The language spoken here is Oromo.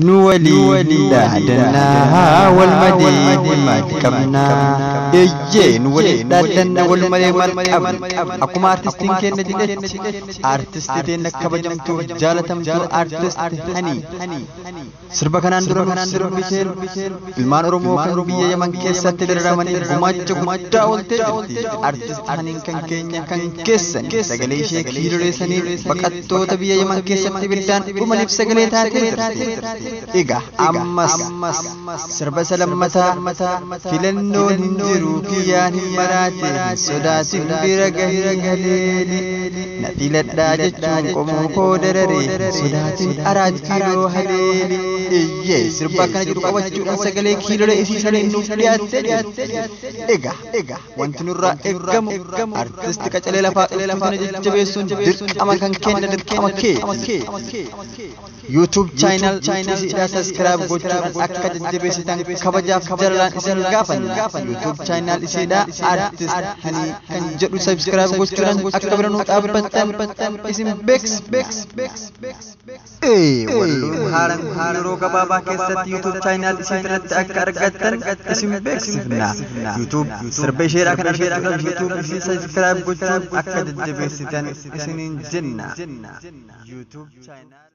nu walii dhaadannaa wal malee maal qabnaa eeyyee nu walii dhaadannaa wal malee maal qabna akkuma artistiin keenya jedhetti artisti keenya kabajamtuu jaalatamtuu artisti hanii Sirba kanaan dura nuuf sirbiseen ilmaan Oromoo kan biyya Yaman keessatti dararamanii gumaacha guddaa ooltee jirti. Artist Haniin kan keenya kan keessan sagalee ishee kiirireessanii baqattoota biyya Yaman keessatti ibiddaan dhumaniif sagalee taatee jirti. Egaa ammas sirba isa lammataa Filannoon hin jiru kiyyaan hin maraate hin sodaatin bira gahii haleeli na filadhaa jechuun qomoo koo darare hin sodaatin araat kiiloo haleeli iyyee sirba akkana jedhu qabachuudhaan sagalee kiilolee isii shanee nuuf dhiyaattee jirti egaa egaa wanti nurraa eegamu artisti qacalee lafaa dhufuu sana jajjabeessuun dirqama kan kenna dirqama kee YouTube channel Tuusiidhaa subscribe gochuudhaan akka jajjabeessitan kabajaaf jalalaan isin gaafanna. YouTube channel isiidhaa Artist Hanii kan jedhu subscribe gochuudhaan akka bira nu dhaabbattan isin beeksifna. Ee walluun haaraan kun yeroo gabaabaa keessatti YouTube channel isin irratti akka argattan isin beeksifna. YouTube sirba isheedhaa kan argachuudhaaf YouTube isin subscribe gochuun akka jajjabeessitan isiniin jenna. YouTube channel